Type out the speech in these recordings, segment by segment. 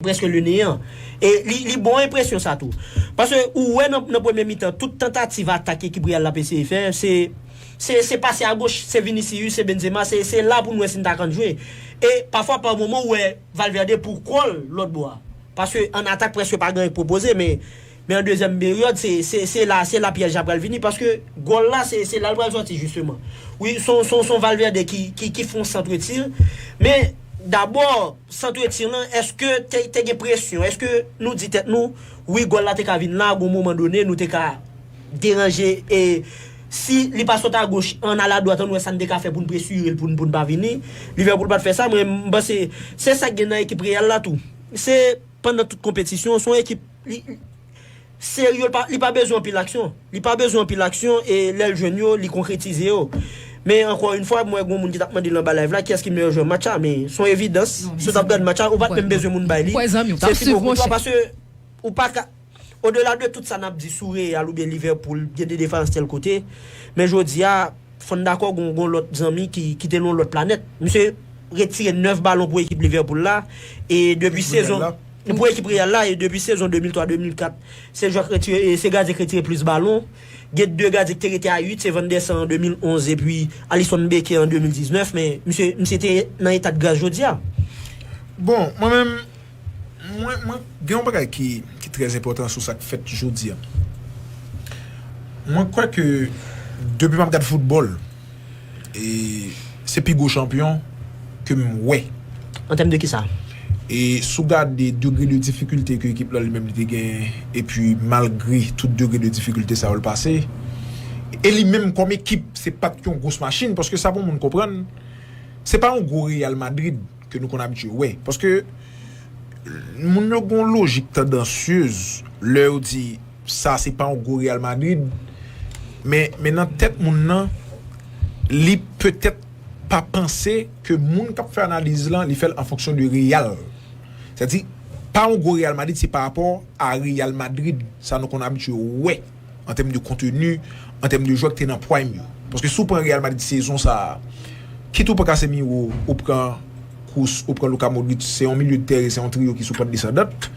Preske le neyan. E li bon enpresyon sa tou. Paske ou wè nan premye mitan tout tantativ atak ekip Real la ap eseye fè, se se pase a goch, se Vinicius, se Benzema, se la pou nou wè si n ta kan jwe. E pafwa pa moman ou wè Valverde pou kò l lòt bò a. Paske an atak preske pa gen anyen k pwopoze men. Men an dezyèm peryòd se se la se la pyèj la pral vini paske gòl la se se la l pral sòti jisteman. Wi son son son Valverde ki ki ki fè yon centre tir men dabò centre tir lan èske te te gen presyon èske nou di tèt nou wi gòl la te ka vin la gon moman done nou te ka deranje e si li pa sot agoch an al adwat an wè sa n te ka fè pou n presire l pou n pou n pa vini Liverpool pa t fè sa men m panse se sa k gen nan ekip Real la tou se pandan tout konpetisyon son ekip Serye, li pa bezwen anpil aksyon. Li pa bezwen anpil aksyon e lè l jwenn yo, li konkretize yo. Men ankò yn fwa, m wè gen yon moun ki tap mande l anba live la kiyès ki meyè jwè match la, men son evidans, si w tap gad match la, ou pat menm bezwen moun bay li, se Thibaut Courtois paske ou pa ka Odela de tout sa nap di sou Real oubyen Liverpool, gen de defans tèl kote, men jodi a. Fò n dakò gon gon lòt zanmi ki ki te nan yon lòt planèt. Misye ret tire 9 balon pou ekip Liverpool la e depi sezon pou ekip Real la e depi sezon 2003, 2004 se jwè k ret tire e se gadyen k ret tire plis balon. Gen 2 gadyen ki te rete a 8 se Van der Sar an 2011 epi Alisson Becker an 2019 men misye misye te nan eta de gras jodi a. Bon, mwen menm Mwen, mwen gen yon bagay ki, ki trè enpòtan sou sa k fèt jodi a. Mwen kwè ke depi m ap gad foutbòl, e se pi gwo chanpyon ke m wè. An tèm de ki sa? E si w gade degre de difikilte ke ekip la li menm li te genyen, epi malgre tout degre de difikilte sa yo l pase, e li menm kòm ekip se pa t yon gwos machin, paske sa pou moun konprann, se pa yon gwo Real Madrid. ke nou konn abitye wè. Paske moun yo gen yon lojik tandansyez lè yo di sa se pa yon gwo Real Madrid men men nan tèt moun nan li petèt pa panse ke moun kap fè analiz lan li fèl an fonksyon de Real sètadi pa yon gwo Real Madrid se pa rapò a Real Madrid sa nou konn abitye wè. an tèm de konteni, an tèm de jwè ki te nan prime yo. Paske si w pran Real Madrid sezon sa a, kit ou pran Casemiro, ou pran Kroos, ou pran Luka Modric, se yon milye de tèren, se yon triyo ki sou pant desandant.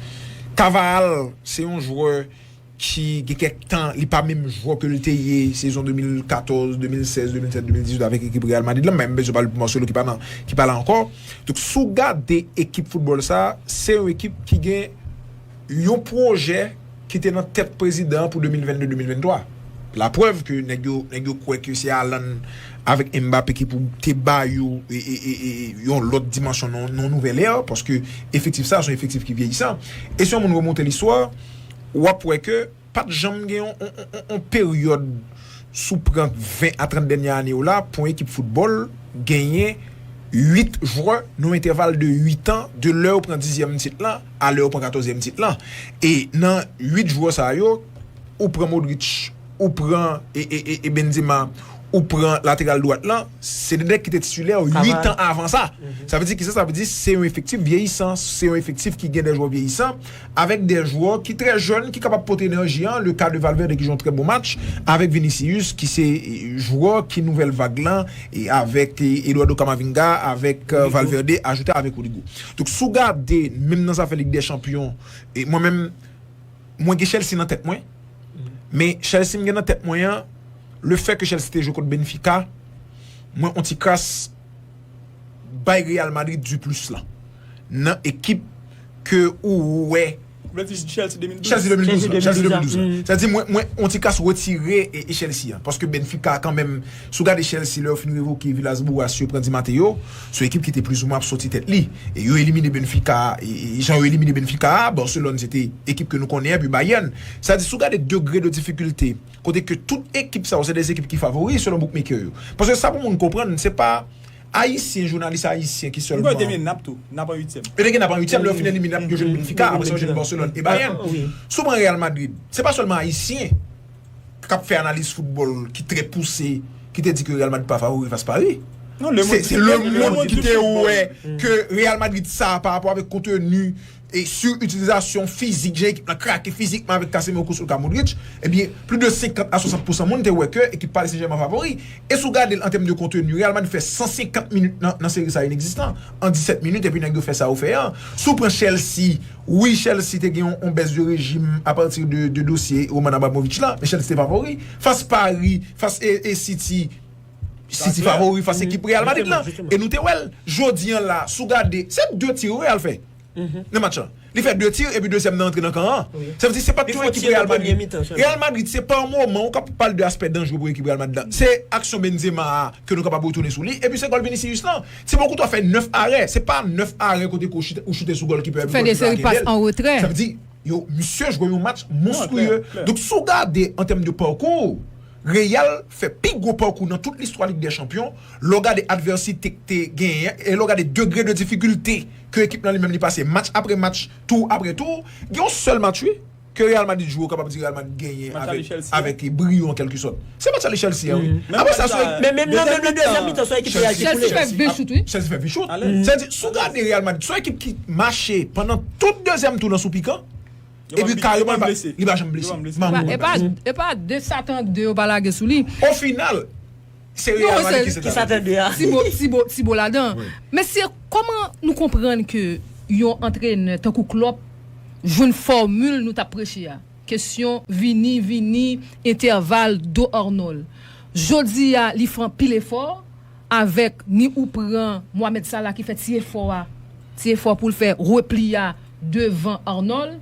Carvajal, se yon jwè ki gen kèk tan li pa menm jwè ke li te ye sezon 2014, 2016, 2017, 2018 avèk ekip Real Madrid la, m pa menm bezwen pale pou Marcelo ki pa nan, ki pa la ankò. Donk si w gade ekip foutbòl sa a, se yon ekip ki gen. yon pwojè ki te nan tèt prezidan an pou 2022-2023. La prèv ke nèg yo kwè ke se Haaland avèk Mbappé ki pou te ba yo yon lòt dimansyon nan yon nouvèl ère, paske efektif sa a se yon efektif ki vyeyisan. E si yon moun remonte listwa, w ap wè ke. Pat janm gen yon peryòd sou prank 20 a 30 dènyè ane yo la pou yon ekip foutbòl genyen 8 jwè nan yon entèval de 8 an de lè yo pran dizyèm tit lan a lè yo pran katòzyèm tit lan e nan 8 jwè sa yo ou pran Modric ou pran Benzema ou pran lateral dwat lan se 2 nèg ki te titilè 8 an avan sa sa vle di kisa sa vle di se yon efektif vyeyisan se yon efektif ki gen 2 jwè vyeyisan. Avèk 2 jwè ki trè jèn ki kapab pote enèji an, le ka de Valverde ki jwe yon trè bon match, avèk Vinicius ki se jwè ki nouvèl vag lan, avèk Eduardo Camavinga, avèk Valverde, ajoute avèk Rodrygo. Donk si w gade menm nan zafè Lig dè Chanpyon, mwen menm mwen gen Chelsea nan tèt mwen, men Chelsea m gen nan tèt mwen an, le fè ke Chelsea te jwe kont Benfica, mwen on ti kras bay Real Madrid du plus lan nan ekip ke ou wè. Ou vle di Chelsea 2012? Chelsea 2012 la. Chelsea 2012 la. Sa vle di mwen mwen on ti kas retire Chelsea an. Paske Benfica kanmenm, si w gade Chelsea lè yo fin revoke Villas Boas yo pran Di Matteo, se yon ekip ki te plizoumwen ap soti tèt li. E yo elimine Benfica, jan yo elimine Benfica a, Barcelone se te ekip ke nou konnen an, epi Bayern. Sa vle di si w gade degre de difikilte kote ke tout ekip sa yo se de ekip ki favori selon bookmaker yo. Paske sa pou moun konprann se pa Ayisyen, jounalis ayisyen ki sèlman. Mwen kwè yo te mennen nap tou, nap an uityèm. Yo te gen nap an uityèm, lè yo fin elimine nap yo jwenn Benfica, apre sa yo jwenn Barcelone e Bayern. Si w pran Real Madrid, se pa sèlman ayisyen kap fè analiz foutbòl ki trè pouse ki te di ke Real Madrid pa favori fas Paris. Se lemond ki te wè ke Real Madrid sa a parapò avèk konteni E sou itilizasyon fizik, jan ekip lan krake fizikman avèk Casemiro kou Luka Modric, ebyen plis de 50 a 60 pousan moun te wè ke ekip Paris Saint-Germain favori. E si w gade l an tèm de konteni, Real Madrid fè 150 minit nan seri sa inegzistan an 17 minit epi nèg yo fè sa yo fè an. Si w pran Chelsea, wi Chelsea te gen yon bès de rejim apati de dosye Roman Abramovich lan, men Chelsea te favori. Fas Paris, fas City. City favori fas ekip Real Madrid lan e nou te wè l jodi an la si w gade se 2 tir Real fè nan match lan li fè 2 tir epi dezyèm nan antre nan kan an sa vle di se pa t yon ekip Real Madrid Real Madrid se pa moman ou ka pale de aspè danjre pou ekip Real Madrid la se aksyon Benzema a ke nou kapab retounen sou li epi se gòl Vinicius lan Thibaut Courtois fè 9 arè se pa 9 arè kote ke ou choute sou gòlkipè epi gòlkipè a kenbe l sa vle di yo misye jwe yon match monstrueux donk si w gade an tèm de parcours Real fè pi gwo pakou nan tout listwa Lig dè Chanpyon, lè w gade advèsite k te genyen an e lè w gade degre de difikilte ke ekip lan li menm li pase match apre match, tour apre tour, gen yon sèl match wi ke Real Madrid jwe ou kapab di Real Madrid genyen avèk briyo an kèlke sòt. Se match ale Chelsea an wi. Apre sa se. Men menm nan menm nan dezyèm mitan se yon ekip Real ki koule. Chelsea fè 20 chout wi. Chelsea fè 20 chout. Sa vle di si w gade Real Madrid se yon ekip ki mache pandan tout dezyèm tou nan sou pikan. Epi kareman li pa janm blese. E pa de satan 2 yo pa lage sou li. O final se Real Madrid ki satan 2 a. Ti bo ladan. Mesye koman nou konprann ke yon antrenè tankou Klopp jwenn fòmil nou tap preche a. Kesyon vini, vini, entèval, do Arnold. Jodi a li fè anpil efò. Avèk ni ou pran Mohamed Salah ki fè ti efò a, ti efò pou l fè repli a devan Arnold,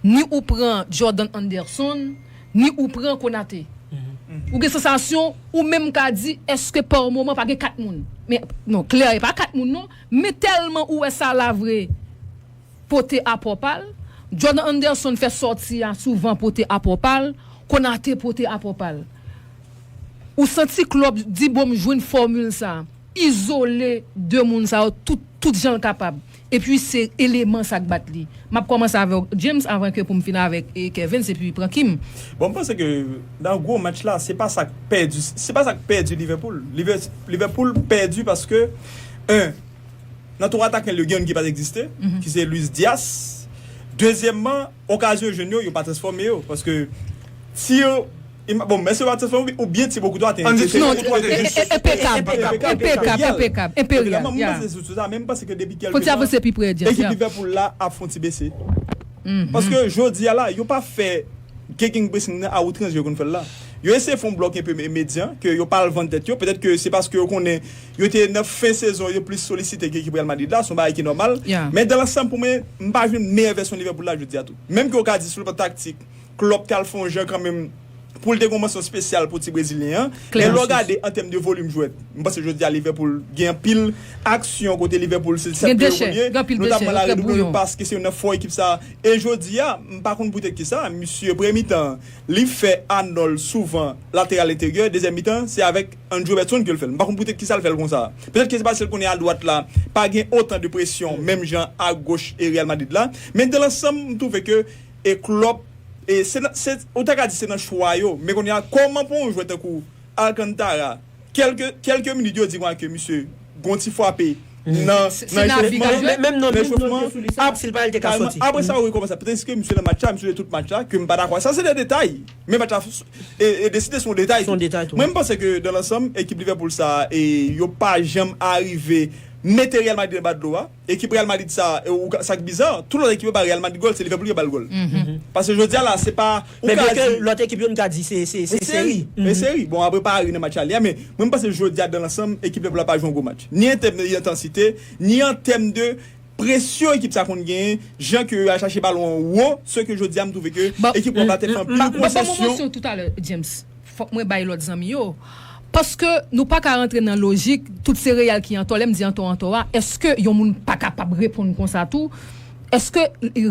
ni ou pran Jordan Henderson, ni ou pran Konate. Ou gen sansasyon ou menm ka di èske pa moman pa gen 4 moun. Men non, klè e pa 4 moun non, men tèlman ou wè Salah vre. pote apò pa l, Jordan Anderson fè sòti a souvan pote apò pa l, Konate pote apò pa l. Ou santi Klòp di bon m jwenn fòmil sa, izole 2 moun sa yo tout tout jan l kapab. Epi se eleman sa k bat li. M ap kòmanse avè w James avan ke pou m fin avèk Kervens epi pran Kim. Bon m panse ke nan gwo match la se pa sa k pèdi se pa sa k pèdi Liverpool. Liverpool pèdi paske 1. Nan twa atakè l yo gen youn ki pa t egziste, ki se Luis Diaz. Dezyèmman, okazyon yo jwenn yo, yo pa transfòme yo. Paske tir, bon, èske yo pa transfòme yo oubyen Thibaut Courtois te enpeche? Non, Thibaut Courtois te jis. Enpekab. Enpekab. Enperyal. Mwen panse se sou sa, men mwen panse ke depi kèlke tan ekip Liverpool la ap fè yon ti bese. Paske jodi a la, yo pa fè gegenpressing nan a outrans jan yo konn fè l la. Yo eseye fè yon blòk enpe medyan ke yo pa al vann tèt yo. Petèt ke se paske yo konnen. Yo te nan fen sezon, yo plis solisite ke ekip Real Madrid la, son bagay ki nòmal. Men dan lansanm pou mwen, m pa jwenn meyè vèsyon Liverpool la jodi a tou. Menm ke ou ka di sou le plan taktik, Klopp t al fè yon jan kanmenm pou l te gen yon mansyon spesyal pou ti brezilyen an. Men lè w gade an tèm de volim jwè, m panse jodi a Liverpool gen anpil aksyon kote Liverpool se 7 pye yo konn ye, notamman la redoublon de pas ke se yon nan fò ekip sa a. E jodi a, m pa konn poutèt kisa, misye premye mitan an, li fè Arnold souvan lateral enteryè, dezyèm mitan an, se avèk. Andrew Robertson ke l fè l. M pa konn poutèt kisa l fè l konsa. Petèt ke se paske l konnen adwat la pa gen otan de presyon menm jan agoch e Real Madrid la. Men dan lansanm m twouve ke e Klopp e se nan se ou ta ka di se nan chwa yo. Men kounye a kòman pou yon jwè tankou Alcantara kèlke kèlke minit yo di konsa ke misye Gon ti fwape nan echofman an, nan echofman an, apre sa ou rekòmanse. Pètèske misye nan match la, misye jwe tout match la, ke m pa dakò. Sa se de detay, men match la deside se yon detay tou. Mwen m panse ke dan lansanm ekip Liverpool sa a, yo pa janm arive mete Real Madrid anba dlo a. Ekip Real Madrid sa a, e ou ka, sa k biza, tout lòt ekip yo ba Real Madrid gòl, se Liverpool ki bal gòl. Paske jodi a la se pa, ou ka di. Men lòt ekip yo n ka di se se se seri. Se seri. Bon apre Paris nan match ale a, men mwen m panse jodi a dan lansanm ekip Liverpool la pa jwe yon gwo match. Ni an tèm de entansite, ni an tèm de presyon ekip sa konn genyen, jan ke yo al chache balon an wo, se ke jodi a m twouve ke ekip wap la te pran pil konsesyon. Map ban ou manti w toutalè James. Fòk mwen bay lòt zanmi yo. Paske nou pa ka rantre nan lojik tout se Real ki antò. Lè m di antò antò a, èske yon moun pa kapab reponn konsa tou? Èske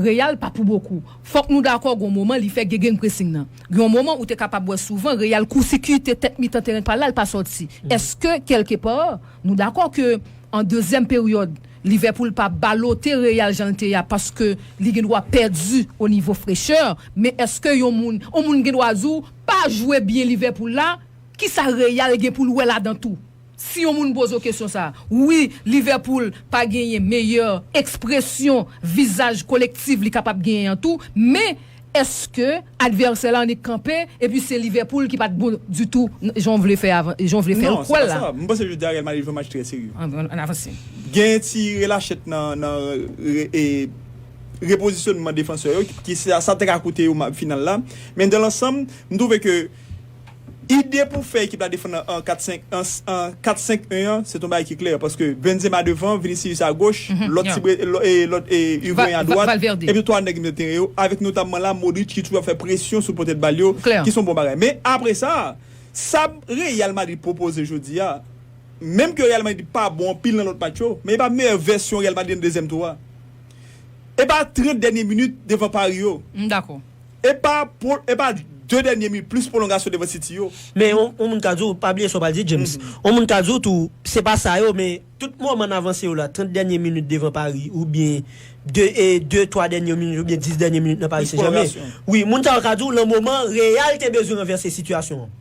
Real pa pou bokou? Fòk nou dakò gen yon moman li fè gegenpressing nan. Gen yon moman ou te kapab wè souvan Real koursikite tèt mitan teren pa l la, l pa sòti. Èske kèlke pa nou dakò ke an dezyèm peryòd Liverpool pa balote Real jan l te ye a paske li gendwa pèdi onivo frechè? Men èske yon moun yon moun gendwa di w Pa jwe byen Liverpool la, kisa Real gen poul wè ladan tou? Si yon moun poze w kesyon sa. Wi, Liverpool pa genyen meyè ekspresyon vizaj kolektiv li kapab genyen an tou, men èske advèsè la annik kanpe epi se Liverpool ki pat bon ditou jan w vle fè jan w vle fè l kwè l la? Non, se pa sa. M panse jodi a Real Madrid jwe match trè serye. An avanse. Gen ti relachèt nan repozisyonman defansè yo ki sa te ka koute yo final la. Men dan lansanm, m twouve ke ide pou fè ekip la defann an 4-5-1 an, se t yon bagay ki klè. Paske Benzema devan, Vinicius a goch, lòt ti bre, lòt Higuain a dwat, epi 3 nèg milye teren yo, avèk notamman la Modric ki toujou ap fè presyon sou potèt bal yo, ki s yon bon bagay. Men apre sa, sa Real Madrid pwopoze jodi a, menm ke Real Madrid pa bon anpil nan lòt match yo, men e pa meyè vèsyon Real Madrid nan dezyèm tou a. Epa 30 dènye minit devan pari yo. M dakò. Epa epa 2 dènye minit plis pwolongasyon devan City yo. Men yon moun ka di w, pa bliye sa w pral di James, yon moun ka di w tou se pa sa yo men tout moman n avanse yo la 30 dènye minit devan pari oubyen 2 e 2 3 dènye minit oubyen 10 dènye minit nan Paris Saint Germain wi moun sa yo ka di w lan moman Real te bezwen ranvèse sitiyasyon an.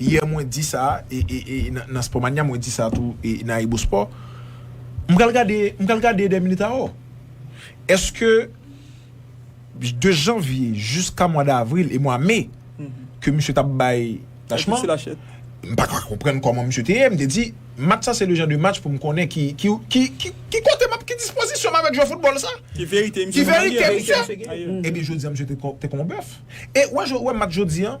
Yè mwen di sa nan Sport Mania, mwen di sa tou nan Ayibo Sport. M pral gade, m pral gade 2 minutes a or. Eske de janvye jiska mwa davril e mwa me ke misye t ap bay tachman, m pa ka konprann kòman misye te ye. M te di match sa se le jan de match pou m konnen ki ki kote m ap, ki dispozisyon m avèk jwè foutbòl sa. Ki verite misye. Ebyen jodi a misye te kon bèf. E wè match jodi an.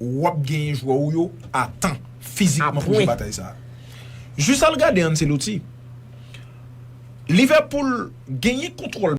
wap genyen jwè ou yo a tan, fizikman pou jwe batay sa. Jis al gade Ancelotti. Liverpool genyen kontwòl.